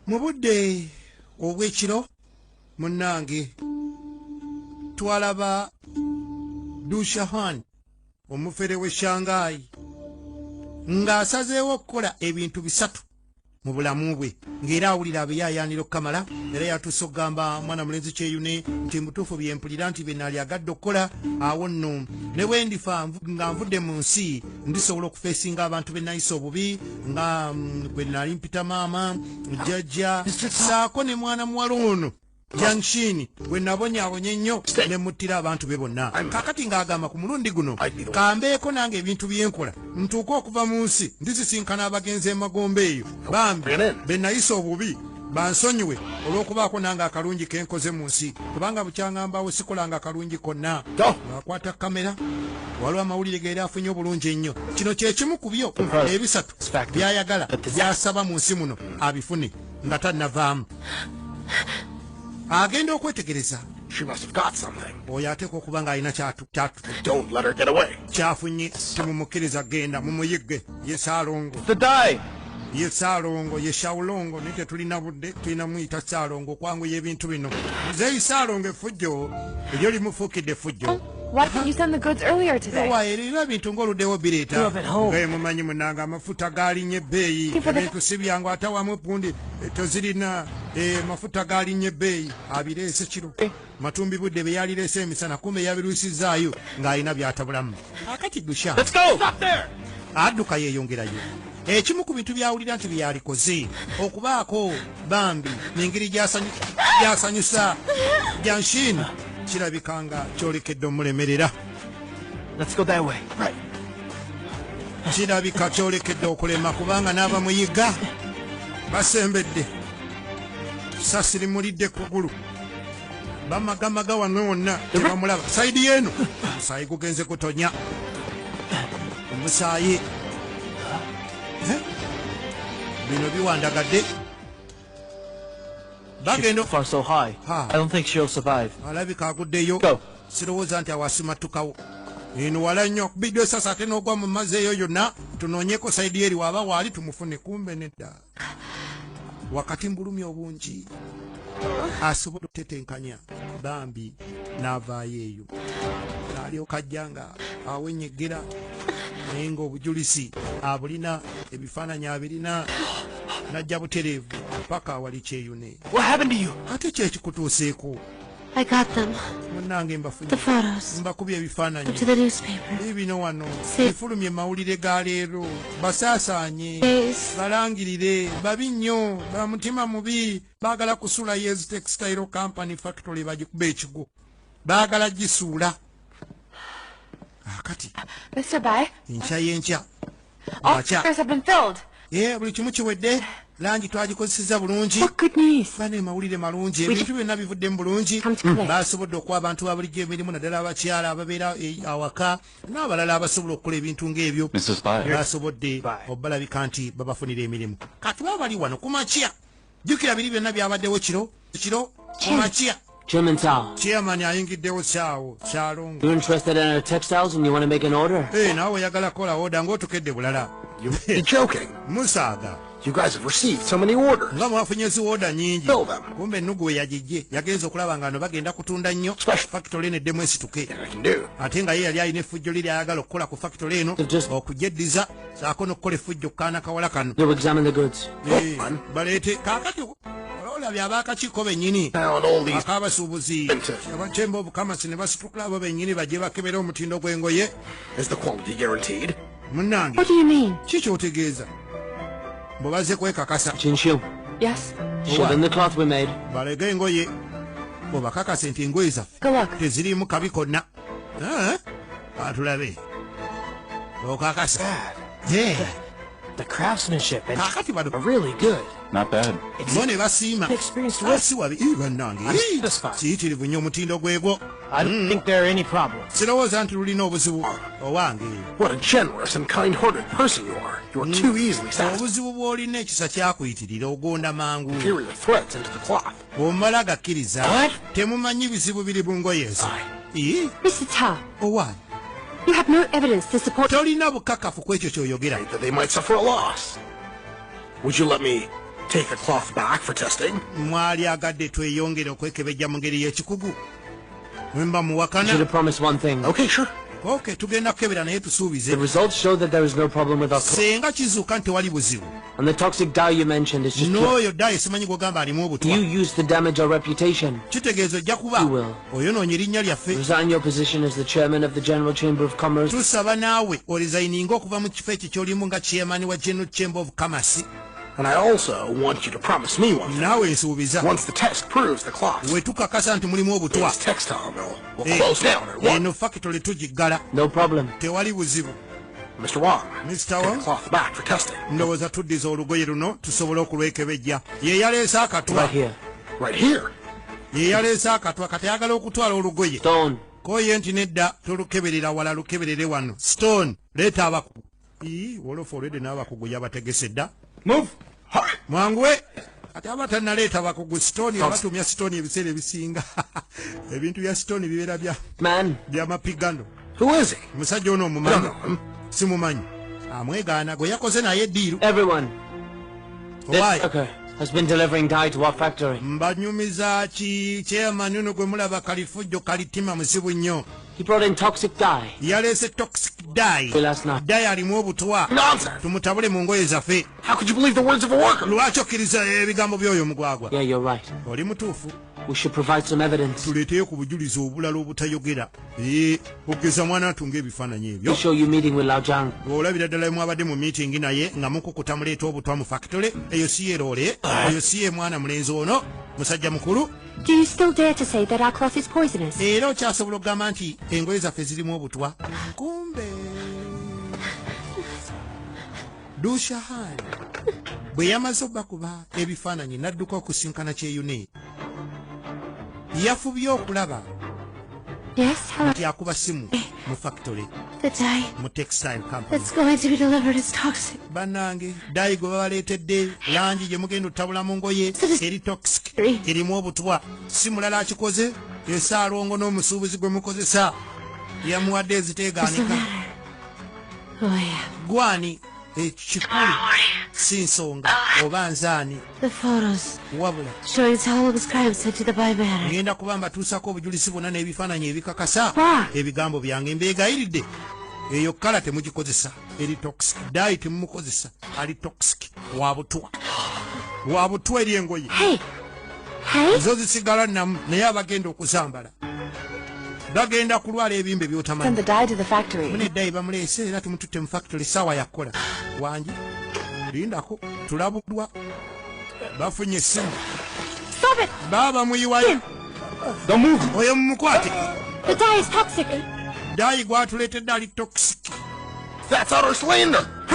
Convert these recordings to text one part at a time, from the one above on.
mu budde obw'ekiro munnange twalaba dushahan omufere w'e shangayi ng'asazeewo okukola ebintu bisatu mu bulamu bwe ng'era awulira abeyayaanira okukamala era yatuuse okugamba mwana mulenzi kyeyune nti mutuufu byempulira nti bye naali agadde okukola awo nno ne bwe ndifa nga nvudde mu nsi ndisobola okufesinga abantu benayisa obubi nga mm, gwe nali mpita maama jajja saako ne mwana muwala ono jangshin gwe nabonyabonya ennyo ne muttira abantu be bonna kakati ng'agamba ku mulundi guno kambeeko nange ebintu byenkola ntuuka okuva mu nsi ndisisinkana abagenzi emagombe eyo bambi benayisa obubi bansonyiwe olw'okubaako nange akalungi ke nkoze mu nsi kubanga bukyangambawo sikolanga akalungi konna akwata kamera waliwo amawulire geeri afunye obulungi ennyo kino kye kimu ku byo ebisatu byayagala byasaba mu nsi muno abifune nga tannavaamu agenda okwetegereza oyo ateeka okuba ng'alina kyafunye temumukkiriza genda mumuyigge ye saalongo today ye saalongo ye shawulongo naye tetulina budde tulina muyita saalongo okwanguya ebintu bino muzeeyi saalongo efujjo eryo limufuukidde efujjo Why didn't you send the goods earlier today? Why did you bintu ngoluddewo bireeta. Love at home. Gaye mumanyi munanga amafuta galinye beeyi. Ebintu si byangu atawamu pundi tozirina eh, mafuta galinye beeyi abireese kiro. Matumbibudde bye yalireese emisana kumbe yabirwisizzaayo ng'alina by'atabulamu. Kaakati Dusha adduka yeeyongerayo. Ekimu ku bintu by'awulira nti bye yalikoze okubaako bambi n'engeri gy'asanyusa Janshin kirabika nga kyolekedde omulemerera. Kirabika kyolekedde okulema kubanga n'abamuyigga basembedde. Sasiri mulidde kugulu. bamagamaga wange wonna tebamulaba saidi yeeno omusaayi gugenze kutonya omusaayi eh? bino biwandagadde alabika aguddeyo sirowooza nti awasimatukawo eno wala nnyo kubidde esasa ate n'ogwa mu mazzi eyo yonna tunoonyeko saidi eri waaba waali tumufune kumbe nedda wakati mbulumi obungi asobola okutetenkanya bambi n'avaayo eyo alyoka ajja nga awenyegera naye ng'obujulizi abulina ebifaananyi abirina najja butereevu paka awali kyeyune ate kyekikutuuseeko I got them. munange mbafunye The photos. mbakubye ebifaananyi Up to the newspaper. biibino wano Se- bifulumye mu mawulire ga leero basaasaanye Days. balangirire babi nnyo ba mutima mubi baagala kusuula yeezi textile company factory bagikuba ekigwo baagala gisuula akati ah, mr by enkya y'enkya ye buli kimu kiwedde langi twagikozeseza bulungi bana emawulire malungi ebintu byonna bivudde mu bulungi basobodde okuwa abantu ba bulijjo emirimu naddala abakyala ababeera e, awaka n'abalala abasobola okukola ebintu ng'ebyo basobodde obalabika nti babafunira emirimu katuba bali wano kumakya jjukira biri byonna byabaddewo kiro kiro kumakya Chairman Tao. Chairman ayingiddewo saawo kyalongo. You're interested in our textiles and you want to make an order? Eh, hey, nawe oyagala kola order ng'otukedde bulala. You're joking. Musaaga. You guys have received so many orders. Nga mwafunye zi order nyingi. Fill them. Kumbe nnugu we yagijje. Yagenze okulaba nga no bagenda kutunda nnyo. Special. Factory eno eddemu esituke. Ate nga ye yali alina effujjo liri ayagala okukola ku factory eno. Okugye ddiza. saako nokukola effujjo kukaana kawala kano baleete kakati olabye abakakiiko benyini akabasuubuzi abatemba obukamasi ne basitukula abo benyini bajje bakebera omutindo gw'engoye munange ki kyotegeeza mbu bazze kwekakasa balege engoye obakakase nti engoye zaffe teziriimu kabi konna atulabe okakasa kakati bano bo ne basiima si wabi bannange kiyitirivu nnyo omutindo gwegwo sirowooza nti lulina obuzibu owange obuzibu bw'olina ekisa kyakuyitirira ogonda mangu bw'omala agakkiriza temumanyi bizibu biri mu ngoye ezo owaani tolina bukakafu ku ekyo ky'oyogera mwali agadde tweyongere okwekebejja mu ngeri y'ekikugu wemba muwakana ok tugenda kukebera naye tusuubize senga kizuuka nti wali buzibu And the toxic dye you mentioned is just No, your dye simanyi gogamba alimu obutwa. You use to damage our reputation. Kitegeeza ojja kuba. You will. Oyonoonye erinnya lyaffe. Resign your position as the chairman of the General Chamber of Commerce. Tusaba naawe orizayininga okuva mu kifo ekyo ky'olimu nga chairman wa General Chamber of Commerce. And I also want you to promise me one thing. Nawe nsuubiza. Once the test proves the clock. We tukakasa nti mulimu obutwa. This textile mill will eh, close down at one. Eno factory tugiggala. No problem. Tewali buzibu. Mr. Wong, Mr. Wong, the cloth back for testing. ndowooza tuddiza olugoye luno tusobole okulwekebejja ye yaleese akatwa right here. Right here. ye yaleese akatwa kati ayagala okutwala olugoye Stone. koye nti nedda tolukeberera wala lukeberere wano stone leeta abakugu ii wolofa olwedde n'abakugu yabategese dda Move. mwanguwe ate aba tanaleeta bakugu sitoni abatumya sitoni ebiseera ebisinga ebintu bya sitoni bibeera bya byamapigano musajja ono omumanyi simumanyi amwegaana gwe yakoze naye diiru mbanyumiza ki chairman ono gwe mulaba kalifujjo kalitima musibu nnyo yaleese toxic di di alimu obutwa tumutabule mu ngoye zaffe How could you believe the words of a worker? Lwaki okkiriza ebigambo by'oyo omugwagwa? Yeah, you're right. Oli mutuufu. We should provide some evidence. Tuleeteyo ku bujulizi obulala obutayogera. Eh, okugeza mwana atunga ebifaananyi ebyo. You show you meeting with Laojang. Olabira ddala mwabadde mu meeting naye nga mukukuta muleeta obutwa mu factory. Eyo si ye loole. Ah. Eyo si ye mwana mulenzi ono. Musajja mukulu. Do you still dare to say that our cloth is poisonous? Era okyasobola okugamba nti engoye zaffe zirimu obutwa. Kumbe. dushahani bwe yamaze okubakuba ebifaananyi n'adduka okusinkana kyeyune yafubye okulaba nti akuba simu eh. mu factory mu textile companybanange dayi gwe babaleetedde langi gye mugenda otabula mu ngoye eri toxic erimu obutwa si mulala akikoze esaalongo n'omusuubuzi gwe mukozesa yamuwadde eziteegaanika gwani ekikulu si nsonga oba nzaani wabula ngenda kuba mbatuusako obujulizi bwonna n'ebifaananyi ebikakasa ebigambo byange mbeegayiridde eyo kala temugikozesa eri toxic dayi temumukozesa ali toxic wabutwa wabutwa eri engoye zo zisigala namu naye abagenda okuzambala bagenda kulwala ebimbe byotamanyimuneddayi bamuleese era tumututte mu factory saawa yakukola wangi lindako tulabudwa bafunye essimu baaba muyiwayo oyo mumukwate dayi gwatuleetedde ali toxic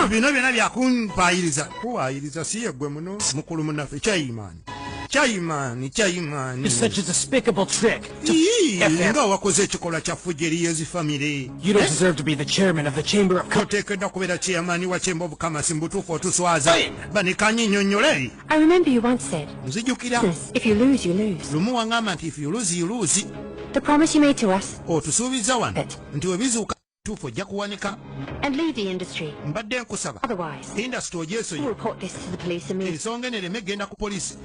bino byona byakumpayiriza kuwayiriza si yegwe muno mukulu munafe kyayimani Chaimani, Chaimani. It's such a despicable trick. Nga wakoze ekikolwa kya fujja eri yezi family. You don't eh? deserve to be the chairman of the chamber of commerce. Oteekedwa kubeera chairman wa chamber of commerce mbutuufu otuswaza. Banikanye nnyonnyole. I remember you once said. Nzijukira. If you lose, you lose. Lumu wangamba nti if you lose, you lose. The promise you made to us. Otusuubiza wano nti webizuuka kituufu ojja kuwanika mbadde nkusaba indasitry ogyesonyi ensonga eno ereme egenda ku poliisi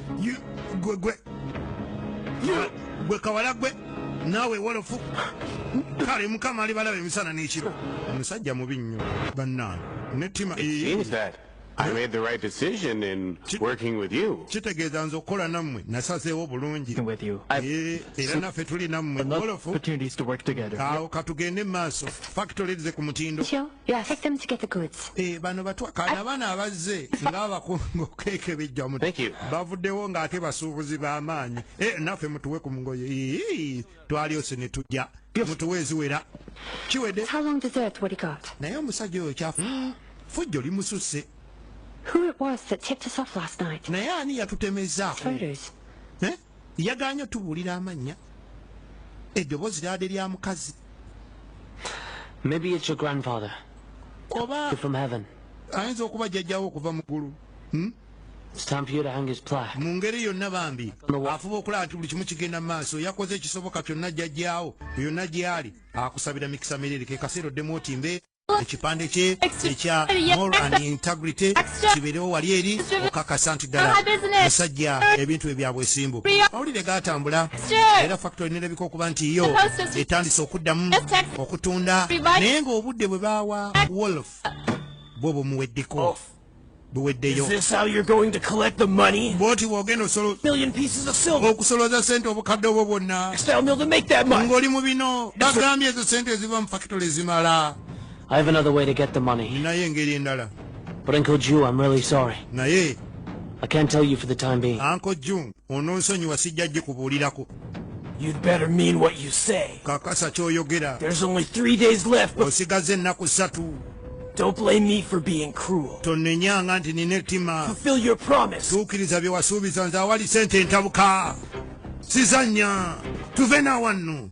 gwe kawala gwe naawe wolofu kale mukama alibalaba emisana n'ekiro omusajja mubi nnyo bannange nettima kitegeeza nze okukola nammwe nasazeewo bulungi eh, era naffe tuli nammwe mugolofu awo katugende mu maaso fakitole ze ku mutindo eh, bano batwakana abaana abazze ngaabakunga okekebejja bavuddewo ng'ate basuubuzi b'amaanyi eh, naffe mutuwe ku mugoye twalyose ne tujja mutuwa eziwera kiwedde naye omusajja oyo kyafu fujjo limususse naye ani yatutemezaako eh? yaganye otubuulira amannya eddoboozi lyade lya mukazi oba ayinza okuba jjajjawo okuva mu ggulu hmm? mu ngeri yonna bambi afuba okulaba nti buli kimu kigenda mu maaso yakoze ekisoboka kyonna jjajjaawo yonna gy'ali akusabira mikisa mirere ke kaseera oddemu otimbe ekipande kye ekya more and integrity kibeerewo wali eri okakasa nti ddala musajja ebintu bye byabwesimbu mawulire gaatambula era factory nerabika okuba nti yo etandise okuddamu okutunda naye ng'obudde bwe baawa wolf bwo bumuweddeko buweddeyo bwoti bwogenda okusoloza sente obukadde obwo bwonna ng'oli mu bino bagambye ezo sente eziva mu fakitole zimala naye engeri endala naye ankojju ononsonyiwa sijja gikubuulirako You'd better mean what you say. Kakasa kyoyogera. There's only three days left. Osigaza ennaku ssatu. Don't blame me for being cruel. Tonnenyanga nti nina ettima. Fulfill your promise. Tuukiriza bye wasuubiza nze awali sente ntabuka. Sizannya. Tuve na wanno.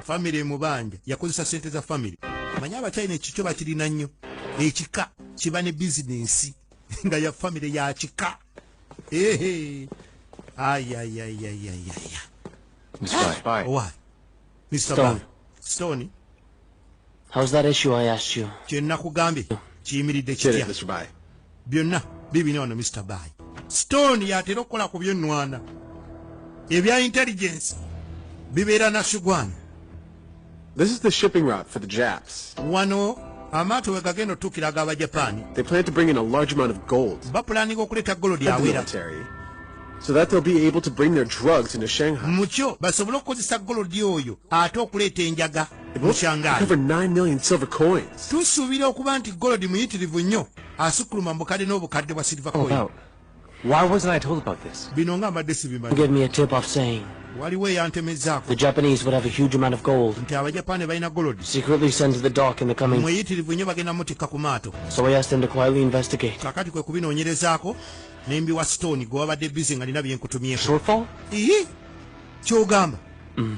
famire emubanja yakozesa sente za famire manye abachina ekikyo bakirina nnyo ekika kiba ne bizinensi nga ya famire ya kika ehe ayayayayayaya Mr. Stone. Stone. Kye nnakugambye kiyimiridde kitya? Byonna bibina wano Mr. Bayi. Stone y'atera okukola ku by'ennwana. Ebya intelligence bibeera na Sugwani. This is the shipping route for the Japs. Wano amaato we gagenda otuukira aga Abajapaani. They plan to bring in a large amount of gold. Bapulaninga okuleeta golodi awera. So that they'll be able to bring their drugs into Shanghai. Mukyo basobole okukozesa golodi oyo ate okuleeta enjaga. tusuubira okuba nti golodi muyitirivu nnyo asukkuluma mu bukadde n'obukadde bwa silver oh, coin Why wasn't I told about this? Give me a tip off saying the Japanese would have a huge amount of gold secretly sent to the dock in the coming. So I asked them to quietly investigate. nembi wa stone gwe wabadde bizi nga nina byenkutumyeko shortfall? Ii? kyogamba mm.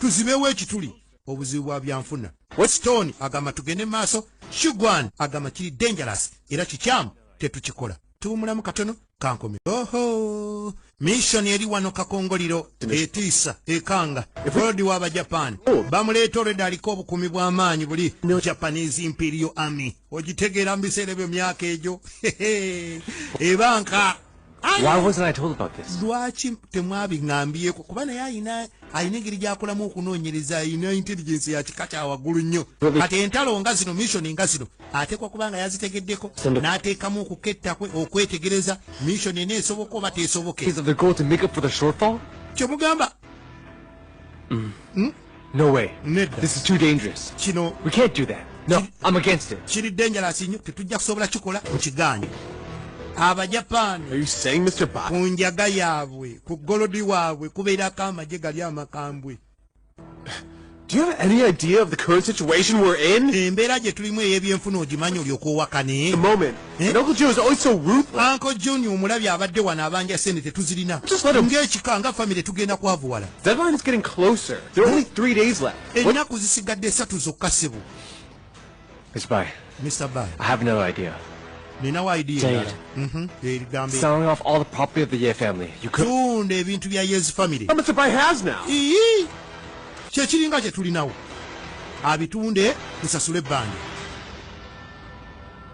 tuzibewo ekituli obuzibu bwa byanfuna weston agamba tugende maaso shugwan agamba kiri dangerous era kikyamu tetukikola tuwumulamu katono kankome oho mishoni eri wano kakongoliro etiisa ekanga olodi wa bajapani oh. bamuleeta olweda aliko obukumi bw'amaanyi buli japanese imperio army ogitegeera mu biseera ebyo myaka egyo ebanka lwaki temwabiŋambiyeko kuba naye ayina alina engeri gyakolamu okunoonyereza alina intelligence ya kika kya waggulu nnyo kati entalo nga zino mission nga zino ateekwa kuba nga yazitegeddeko n'ateekamu okuketta kwe okwetegereza mission ena esoboka oba teesoboke kyemugamba mm. hmm? No way. Nedda. This is too dangerous. Kino. We can't do that. No, I'm against it. Kiri dangerous inyo. Tetujja kusobola kikola. Mukiganye. Aba Japan. Are you saying Mr. Bach? Kunjaga yabwe. Kugolodi wabwe. Kubera kama jega liya makambwe. Do you have any idea of the current situation we're in? Embera je tulimwe yebye mfuno jimanyo lyokuwa kane. The moment. Eh? Uncle John omulabi abadde wano abanja sente tetuzirina ng'ekika nga famire tugenda kwavuwala ennaku zisigadde esatu zokka sebo ninawo idiatunda mhm. ebintu bya yezi famire kyekiringa kyetulinawo abitunde tusasule ebbanja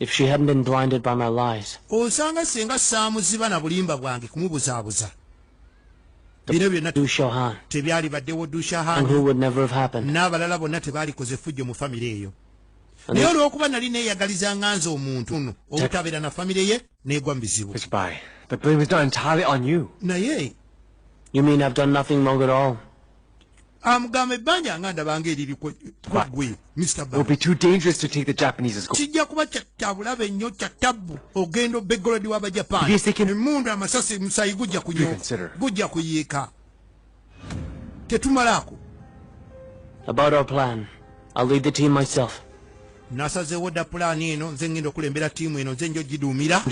If she hadn't been blinded by my lies. Osanga senga samuziba na bulimba bwange kumubuzabuza. Bino byonna Dushahan. Tebyali badewo Dushahan. And who would never have happened. N'abalala bonna tebali koze fujjo mu family eyo. Naye olwokuba nali neeyagaliza nga nze omuntu ono obutabeera na famire ye neegwa mu bizibu. It's by. The blame is not entirely on you. Naye. You mean I've done nothing wrong at all? amugamba ebbanja nga ndabanga eriri kwegwe kijja kuba kyabulabe nnyo kya tabbu ogenda obegolodi w'abajapaani emundu amasasi musayi gujja kunyo gujja kuyiika tetumalaako nasazeewo dda pulaani eno nze ngenda okulembera ttiimu eno nze nja ogiduumira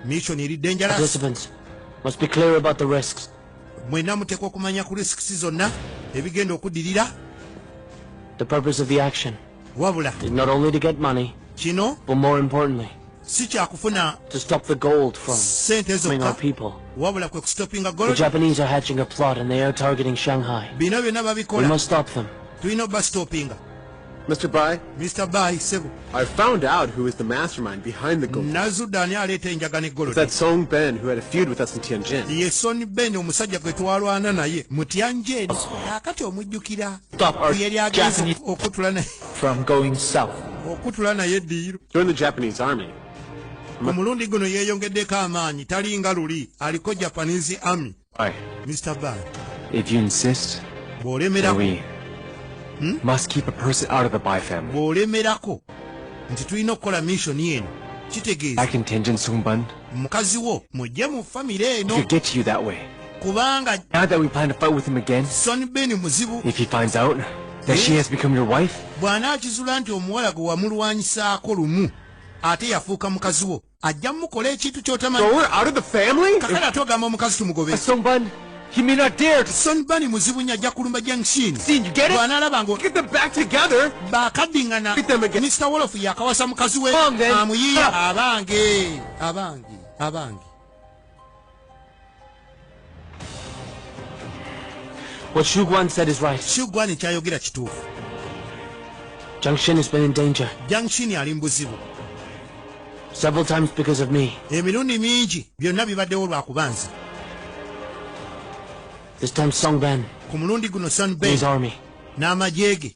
mission eri dangerous mwena muteekwa okumanya ku risks zonna ebigenda okuddirira wabula kino si kyakufuna sente zokka wabula kwe kusitopinga golbino byonna babikola tulina obasitopinga Mr. Bai? Mr. Bai, Sebo. I found out who is the mastermind behind the gold. Nazu Dani aleta enjaga ne gold. That Song Ben who had a feud with us in Tianjin. Ye Song Ben omusajja gwe twalwana naye mu Tianjin. Akati omujjukira. Stop our Japanese okutula naye. From going south. Okutula naye diiro. Join the Japanese army. Omulundi guno yeeyongeddeko amaanyi talinga luli aliko Japanese army. Why? Mr. Bad. If you insist, bw'olemerako we hmm? must keep a person out of the Bai family. Bw'olemerako nti tulina okukola mission eno kitegeeza. I contingent Sumban. Mukazi wo mujje mu family eno. If you get to you that way. Kubanga. Now that we plan to fight with him again. Son Ben muzibu. If he finds out that she eh? has become your wife. Bw'anaakizula nti omuwala gwe wamulwanyisaako lumu ate yafuuka mukazi wo. ajja mukola ekintu kyotamanyikakala ate ogamba omukazi tumugobe sonbani muzibu nyo ajja kulumba jangshinbwanalaba ngo bakadingana mr wolof yakawasa mukazi we amuyiya abange abange abange What Xu Guan said is right. Xu Guan kyayogera kituufu. Jiang Xin has been in danger. Jiang Xin ali mu buzibu. Several times because of me. Emirundi mingi byonna bibaddewo lwa kuba nze. This time Song Ben. Ku mulundi guno Song Ben. His army. N'amagye ge.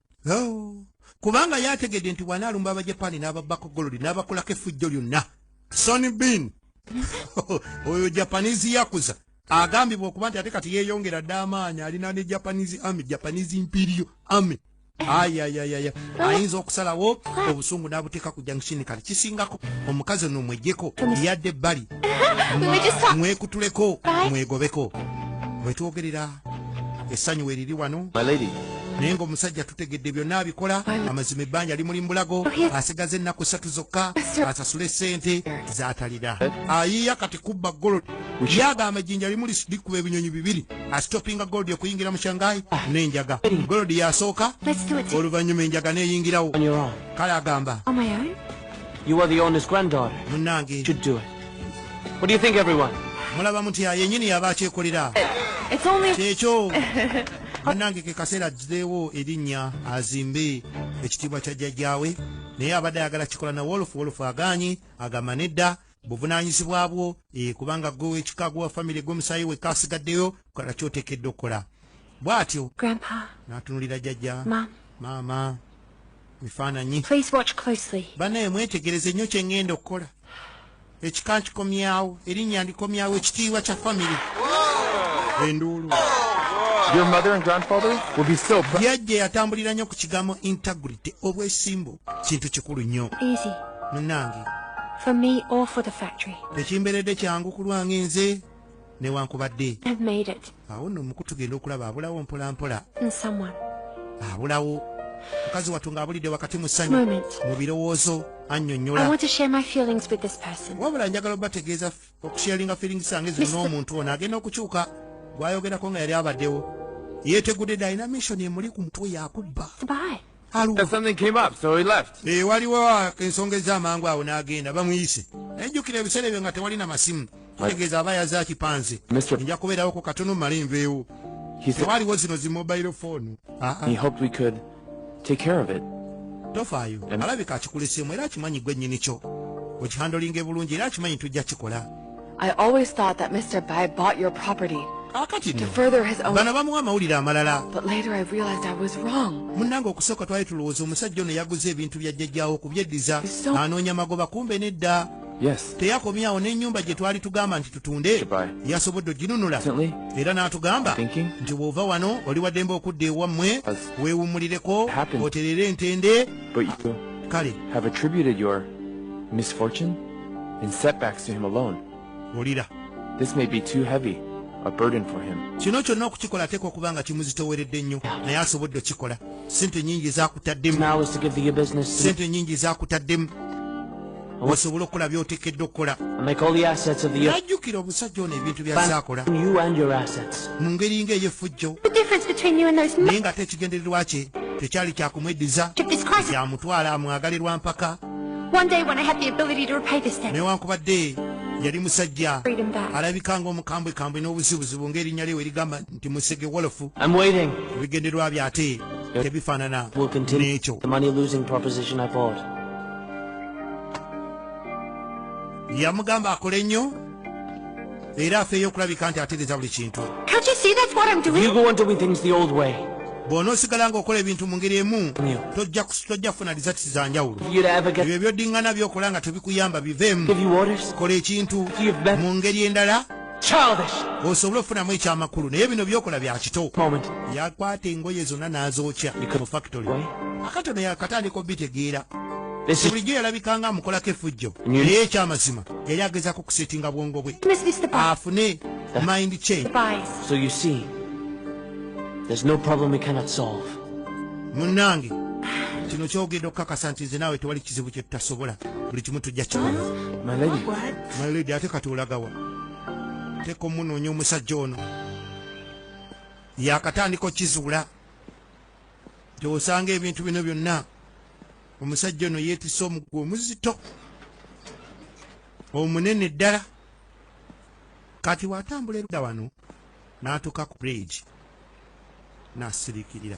oh, kubanga ye ategedde nti bwanaalumba abajapani n'ababbako golodi n'abakolako effujjo lyonna sony bin oyo japanese yakuza agambibwa okuba nti ate kati yeeyongera dda amaanyi alina ne japanese army japanese imperial army ayayayaya ayinza okusalawo obusungu n'abuteeka ku junction kale kisingako omukazi ono omwejjeko yadde ebbali mwekutuleko mwegobeko wetwogerera essanyu weriri wano naye ngaomusajja tutegedde byonna abikola amazima ebbanja limuli mbulago oh, asigaza ennaku satu zokka asasule sente zatalira ayiya kati kubba golo yagamba ejjinja limuli likuba ebinyonyi bibiri asitopinga golodi okuyingira mu shangai ah. n'enjaga golodi yasooka oluvannyuma enjaga neyingirawo kale agamba You are the owner's granddaughter. Munange. Should do it. What do you think, everyone? Mulaba mutya yenyini yaba akyekolera. It's only. Kyekyo. Munange ke kaseera ajjirewo erinnya azimbe ekitiibwa kya jjajjaawe naye abadde ayagala kikola na Wolf. Wolf agaanyi agamba nedda buvunaanyizibwa bwo eh, kubanga gwe wekika gwe wa famire gwe musaayi wekka asigaddeyo kola kyotekedde okukola bw'atyo n'atunulira jjajja maama ebifaananyi banaye mwetegereze nnyo kye ŋŋenda okukola ekika nkikomyawo erinnya ndikomyawo ekitiibwa kya famire enduulu yajja yatambulira nnyo ku kigambo integrity obwesimbu kintu kikulu nnyo munange tekimberedde kyangu kulwange nze newankubadde awo nno muku tugenda okulaba abulawo mpolampola abulawo mukazi wattu ng'abulidde wakati mu ssanyu mu birowoozo annyonnyolawabula njagala obategeeza okusharinga feeling zange zino n'omuntu ono agenda okukyuka gwayogerako nga yali abaddewo yetegudde dynamation emuli ku mutwe yakubba Eh, waliwo ensonga ez'amangu awo n'agenda bamuyise naye jjukira ebiseera ebyo nga tewali na masimu kitegeeza aba yaze akipanze nja kubeerawo ku katono male nveewo tewaliwo zino zi mobile foonu ah, ah. tofaayo alabika akikuleseemu era akimanyi gwe nnyini kyo okihandolinga ebulungi era akimanyi tujja kikola I always thought that Mr. Bai bought your property akati ah, no bano bamuwa amawulire amalala munnange okusooka twali tulowooza omusajja ono yaguze ebintu bya jjajjawo okubyeddiza anoonya magoba kumbe nedda teyakomyawo n'ennyumba gye twali tugamba nti tutunde yasobodde oginunula era n'atugamba nti bw'ova wano oli waddembe okudda ewammwe weewummulireko oterere entende kale and setbacks to him alone. Wulira. This may be too heavy a burden for him. Kino kyonna okukikola ateekwa okuba nga kimuzitooweredde nnyo naye asobodde okikola. Ssente nnyingi zaakutaddemu. Ssente nnyingi zaakutaddemu. Osobola okukola by'oteekeddwa okukola. Najjukira omusajja ono ebintu by'azaakola. Mu ngeri ng'ey'effujjo. Naye ng'ate ekigendererwa kye tekyali kya kumweddiza. Yamutwala amwagale lwa mpaka. newankubadde yali musajja alabika nga omukambwekambwe n'obuzibuzibu ng'erinnya lyewe erigamba nti musege wolofu ebigenderwa bye ate tebifaanana n'ekyo yamugamba akole nnyo era afeeyo okulabika nti ategeeza buli kintu bw'onoosigala ng'okola ebintu mu ngeri emu tojja kufuna disati za njawulo ebyo byodiŋŋana by'okola nga tebikuyamba biveemu kola ekintu mu ngeri endala osobole okufunamu ekyamakulu naye bino byokola bya kito yakwata engoye zonna n'azookya mu fakitole akatono yakatandika obitegeera bulijjo yalabikanga amukolako efujjo naye ekyamazima yali agezako kusetinga bwongo bwe afune mind change so you see there's no problem we cannot solve munange kino kyogenda okukakasa nti nze naawe tewali kizibu kye tutasobola buli kimu tujja kikola my lady ate kati olagawa teeka omunoonya omusajja ono yakatandika okizuula gyewosanga ebintu bino byonna omusajja ono yeetise omugwa omuzito omunene ddala kati watambula erudda wano n'atuuka ku bridge n'asirikirira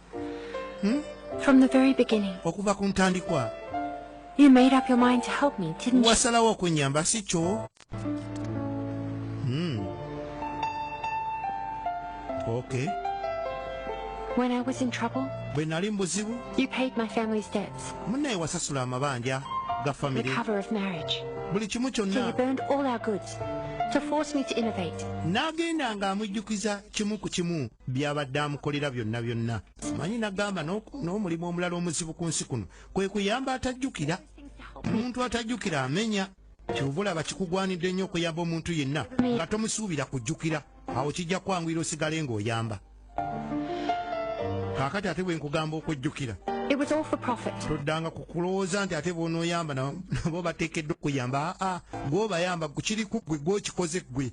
Hmm? From the very beginning. Okuva ku ntandikwa. You made up your mind to help me, didn't you? Wasalawo okunyamba si kyo. Hmm. Okay. When I was in trouble, bwe nali mubuzibu, you paid my family's debts. Munnaye wasasula amabanja ga family. The cover of marriage. Buli kimu kyonna. So you burned all our goods to force me to innovate. N'agenda ng'amujjukiza kimu ku kimu. byabadde amukolera byonna byonna manyi nagamba n'omulimu omulala omuzibu ku nsi kuno kwe kuyamba atajjukira omuntu atajjukira amenya kyovula bakikugwanidde nnyo okuyamba omuntu yenna nga tomusuubira kujjukira awo kijja kwanguyira osigale ng'oyamba kakati ate bwe nkugamba okujjukira toddanga ku kulowooza nti ate bwonoyamba nabo bateekeddwa okuyamba aa gwobayamba kukiri ku ggwe gwokikoze ggwe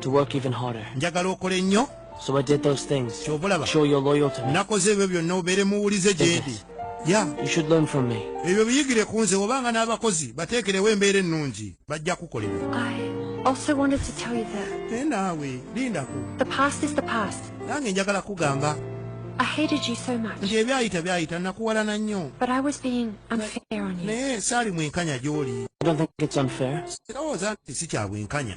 to work even harder njagala okole nnyo so i did those things kyovolaba show your loyal to me nakoze ebyo byonna obeere muwulize gyedi ya you should learn from me ebyo biyigire ku nze obanga n'abakozi bateekerewo embeera ennungi bajja kukolera also wanted to tell you that naye naawe lindako the past is the past nange njagala kugamba I hated you so much. Nje byayita byayita nakuwalana nnyo. But I was being unfair on you. Naye saali mwenkanya gy'oli. I don't think it's unfair. Sirowooza nti si kya bwenkanya.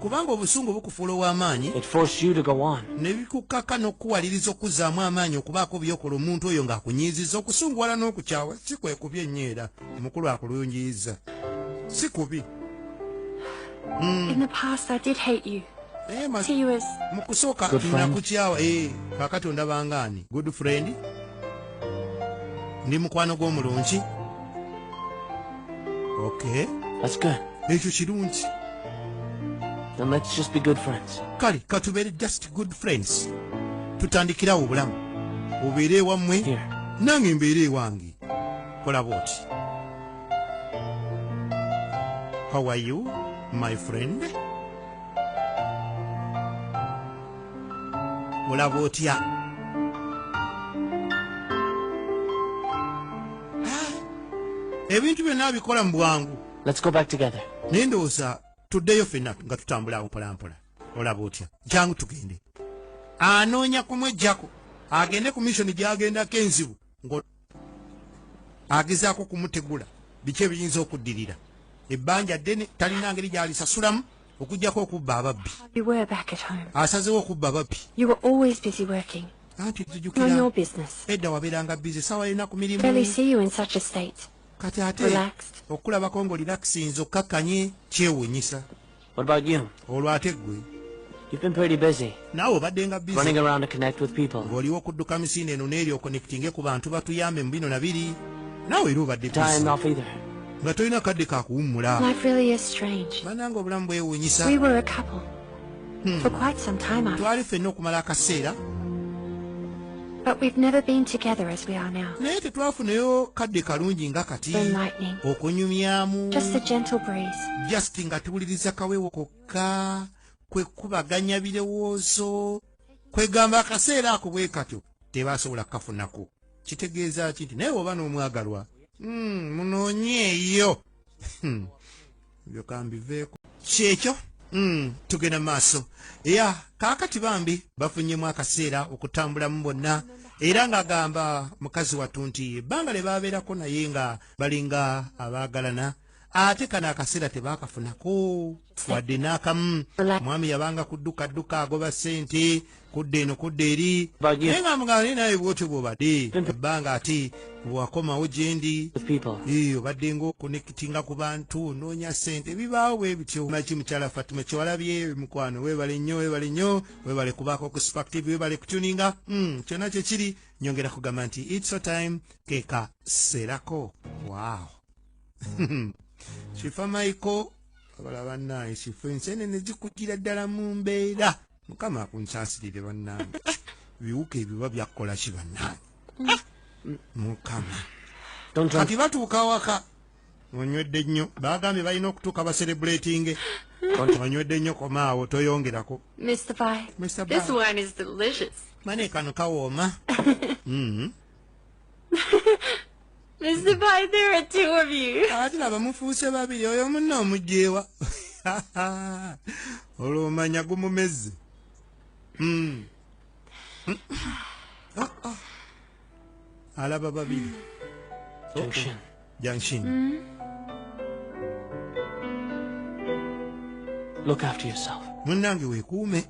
kubanga obusungu bukufuula ow'amaanyi ne bikukkaka n'okukuwaliriza okuzzaamu amaanyi okubaako byokola omuntu oyo ng'akunyiizizza okusunguwala n'okukyawa si kwe kubi ennyo era omukulu akulungiyiza si kubi hmm. eh, mu kusooka nakukyawa eh, kakati ondabangaani good friend ndi mukwano gw'omulungi okay that's good ekyo kirungi then let's just be good friends kale katubeere just good friends tutandikirawo obulamu obeere ewammwe nange mbeere ewange kola bwoti how are you my friend olaba otya ah, ebintu byonna abikola mu bwangu naye ndowooza tuddeyo fenna nga tutambula awo mpolampola olaba otya jangu tugende anoonya kumwejjako agende ku missoni gyagendako enzibu agezaako kumutegula biki ebiyinza okuddirira ebbanja ddene talina ngeri gyalisasulamu okujjako okubba ababbi asazewo okubba ababbi anti tujukira edda wabeeranga bizi sawa yena ku mirimu kati ate okulabako ngaolirakisinza okkakkanye kyewunyisa What about you? Olwo ate gwe? You've been pretty busy. Naawe obadde nga busy. Running around to connect with people. Ng'oliwo okudduka misinde eno n'eri okonectinge ku bantu batuyambe mu bino na biri. Naawe era obadde busy. Time off either. Nga tolina kadde ka kuwummula. Life really is strange. Bananga obulamu bwewuunyisa. We were a couple. Hmm. For quite some time after. Twali ffenna okumala akaseera. But we've never been together as we are now. Naye tetwafunayo kadde kalungi nga kati okunyumyamu just a gentle breeze just nga tuwuliriza kawewo kokka kwe kubaganya birowoozo kwegamba akaseera ako bwe katyo tebasobola kukafunako kitegeeza ki nti naye oba n'omwagalwa hmm, munoonyeeyo hmm. ebyo kambiveeko kyekyo mm, tugenda maaso ya kaakati bambi bafunyemu akaseera okutambulamu bonna era ng'agamba mukazi wattu nti ebbanga lye baabeerako naye nga balinga abaagalana ate kano akaseera tebaakafunako wadde n'akamu omwami yabanga kuddukadduka agoba ssente kudda eno kudda eri naye nga mugamba naye naye bwotyo bwobadde ebbanga ati wakomawo gyendi obadde nga okonekitinga ku bantu onoonya sente bibaawo bwe bityo maki mukyala fatima kyewalabye mukwano webale nnyo webale nnyo webale kubaako ku spactive webale kutuninga hmm, kyonna kyekiri nyongera kugamba nti its a time keka serako wow kifa maiko abala bannaye kifa ensenene zikugira ddala mu mbeera mukama akunsasirire bannange biwuka ebiba byakkola ki bannange mukama kati batuuka awaka onywedde nnyo bagambye balina okutuuka baserebulatinge onywedde nnyo komaawo toyongerako mane kano kawooma mm-hmm. Mr. Pai, there are two of you. Ati laba mufuuse babiri oyo munna omugyewa. Olwo omanya gumumezze. Mm. Mm. Oh, oh. Alaba babiri. Junction. Yanshin. Mm. Look after yourself. Munange wekuume.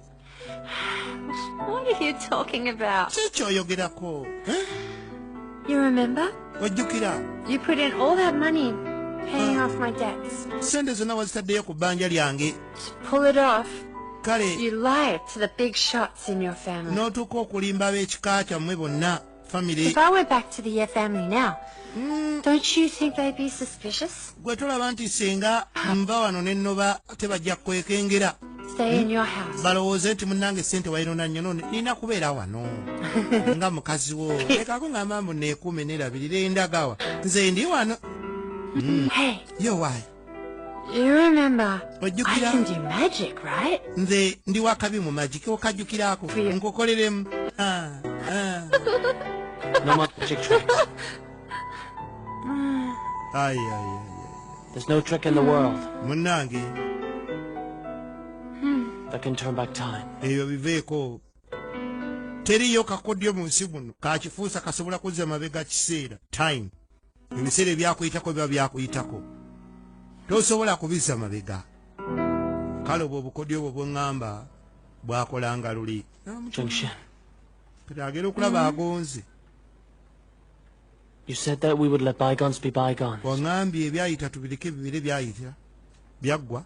What are you talking about? Kiki oyogerako? Eh? You remember? Ojjukira? You put in all that money paying off my debts. Sente zonna wazitaddeyo ku bbanja lyange. Pull it off. Kale. You lied to the big shots in your family. N'otuuka okulimba ab'ekika kyammwe bonna. family if i went back to the family now mm. don't you think they'd be suspicious gwe tolaba nti singa nva wano nennoba tebajja kwekengera hmm? balowooze nti munange sente wayinona nnyo none nina kubeera wano nga mukazi wo lekako ngamba mbu nekuume nerabirira endagawa nze ndi wano hmm. yo wayi ojjukira nze ndi wakabi mu magi okajjukirako nkukoleremu ah, ah. munnange ebyo biveeko teriyo kakodyo mu nsi muno kakifuusa kasobola kuzza mabega kiseera time ebiseera ebyakuyitako biba byakuyitako tosobola kubizza mabega kale obwo obukodyo obwo bweŋŋamba bwakolanga luli agera okulaba agonze waŋambye ebyayita tubireke bibire byayita byaggwa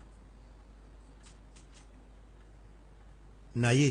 naye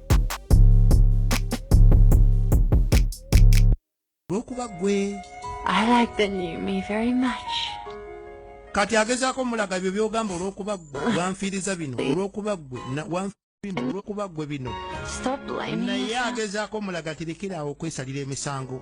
lwokuba gwe kati agezaako mulaga ebyo byogamba olwokuba gwe wanfiiriza bino olwokuba gwe olwokuba gwe bino naye agezaako mulaga tirekiraawo okwesalira emisango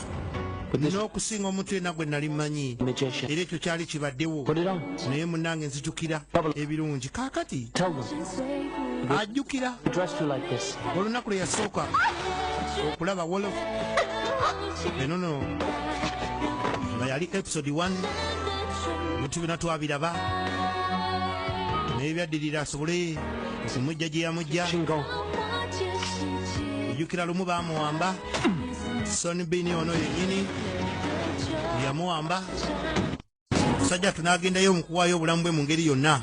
n'okusinga omuntu yena gwe nali manyi era ekyo kyali kibaddewo naye munange nzijukira ebirungi kakati ajjukira olunaku lwe yasooka okulaba wolof enono nga yali episode 1 bintu bina twabiraba naye byaddirira asobole okumujja gye yamujja ojjukira lumu bamuwamba sonibini ono yenyini yamuwamba musajja tunagendayo mukuwaayo obulamu bwe mu ngeri yonna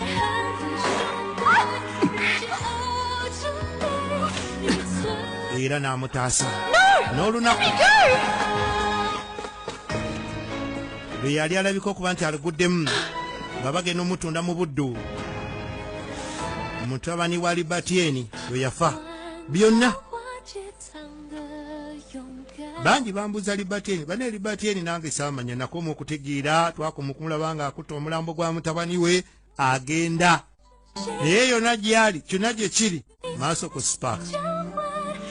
era n'amutaasa n'olunaku lwe yali alabika okuba nti aluguddemu nga bagenda omutunda mu buddu mutabani wa libatieni lwe yafa byonna bangi bambuza libateni bane libateni nange samanya nakoma okutegeera twakoma okumulaba nga akutta omulambo gwa mutabani we agenda naye yona gyali kyona gye kiri maaso ku spark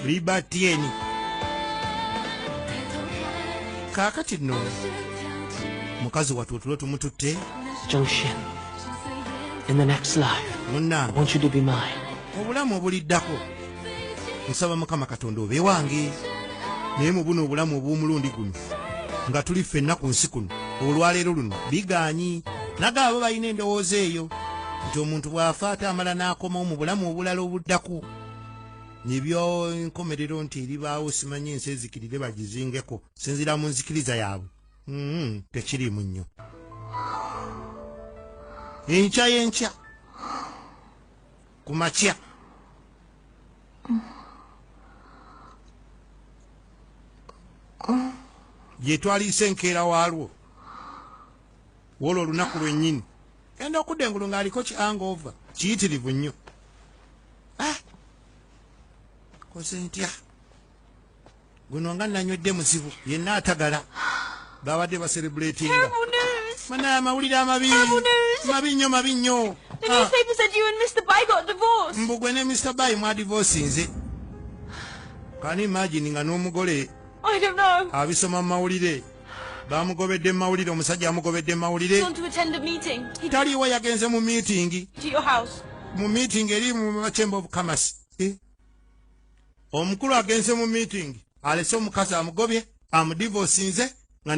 libateni kaakati nno mukazi watu otulo tumututte munange obulamu obuliddako nsaba mukama katonda obe wange naye mu buno obulamu obw'omulundi guno nga tuli ffenna ku nsi kuno olwaleero luno bigaanyi naga abo balina endowooza eyo nti omuntu bw'afa ate amala n'akomawo mu bulamu obulala obuddako nebyonkomerero nti eribaawo simanyi ensi ezikirire bagizingeko sinzira mu nzikiriza yaabwe mm-hmm. tekiriimu nnyo enkya y'enkya ku makya gyetwaliisa enkeera waalwo woolwo olunaku lwennyini genda okudda engulu ng'aliko ki angoova kiyitirivu nnyo ah! koze ntya guno nga nanywedde muzibu yenna atagala babadde baserebuletinga banaye amawulire amabi mabi nnyo mabi nnyo ah. mbugwe ne mr by mwadivosinze kani imagini nga n'omugole abisoma mu mawulire bamugobedde mu mawulire omusajja amugobedde mu mawulire taliiwo yagenze mu miitingi mu miitingi eri mu chamber of commerce eh? omukulu agenze mu meeting alese omukazi amugobye amudivosinze nga ne